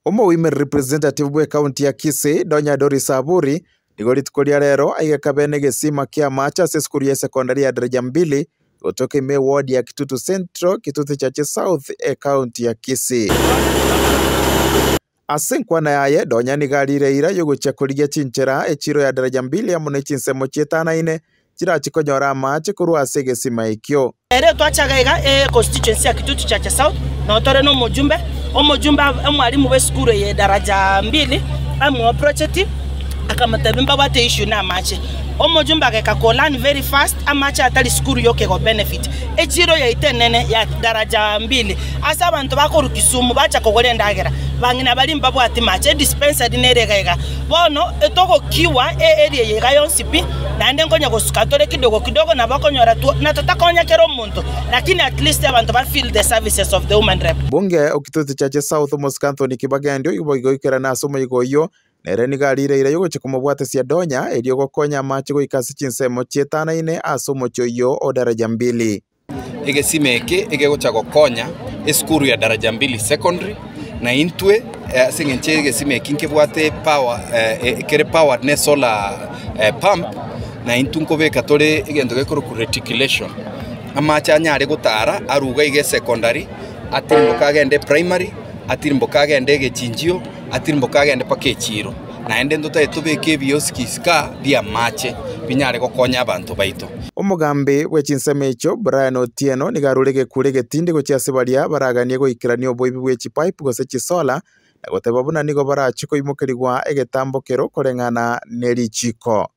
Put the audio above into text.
Omogoimeri representative bwe county ya Kisii, Donya Doris Aburi, nigo rituko ria rero aigeka bene egesima kia amache ase esukuru ya secondary ya Daraja Mbili gotoka ime eward ya Kitutu Central, Kitutu Chache South e county ya Kisii. Ase enkwana yaye, Donya nigo arire eira yogochia korigia chinchera echiro ya Daraja Mbili amo ne chinsemo chietanaine chirachi konyora amaache korwa ase egesima ekio. Ere twachaga iga e constituency ya Kitutu Chache South no tore no omojumbe, omojumbe ab, omwalimu bwe sukuru eye daraja mbili bamuoa project akamotebia mbabwate issue na amache. Omojumbe ageka ko learn very fast amache atari sukuru yoke go benefit echiro yaito enene ya daraja mbili ase abanto bakorwa Kisumu bacha kogora endagera bang'ina baria mbabwati mache dispensary nere iga iga bono etogokiwa e area eye iga yonsi pi, naende nkonya gosuka tore kidogo kidogo nabo okonyora two na totakonya kera omonto lakini at least abanto ba feel the services of the woman rep. Mbunge o Kitutu Chache South omosike Anthony Kibagendi oyo boigo oikerane ase omoigo oyio, nere nigo arire eira yogochia komobwatesia Donya erio gokonya amache goika ase chinsemo chietano-ine ase omochie oyio o Daraja Mbili. Egesima eke ekegocha gokonya esukuru ya Daraja Mbili Secondary, na intwe eh, ase eng'encho egesima eki nkebwate power eh, kere powered ne solar eh, pump na intwe nkobeka tore egento gekorokwa reticulation amache anyare gotara aruga iga esecondary atirimboka agende primary atirimboka agende egechinjio atirimboka agende mpaka echiro naende ntotae tobeke ebiosi gisika bi'amache binyare gokonya abanto baito. Omogambi bwe chinsemo echio, Brian Otieno, nigo arure egekuri egetindi gochia ase baria baraganie goikerania oboibi bwe chipipe gose chisola, na goteba buna nigo barachie koimokerigwa egetambo keroo koreng'ana ne richiiko.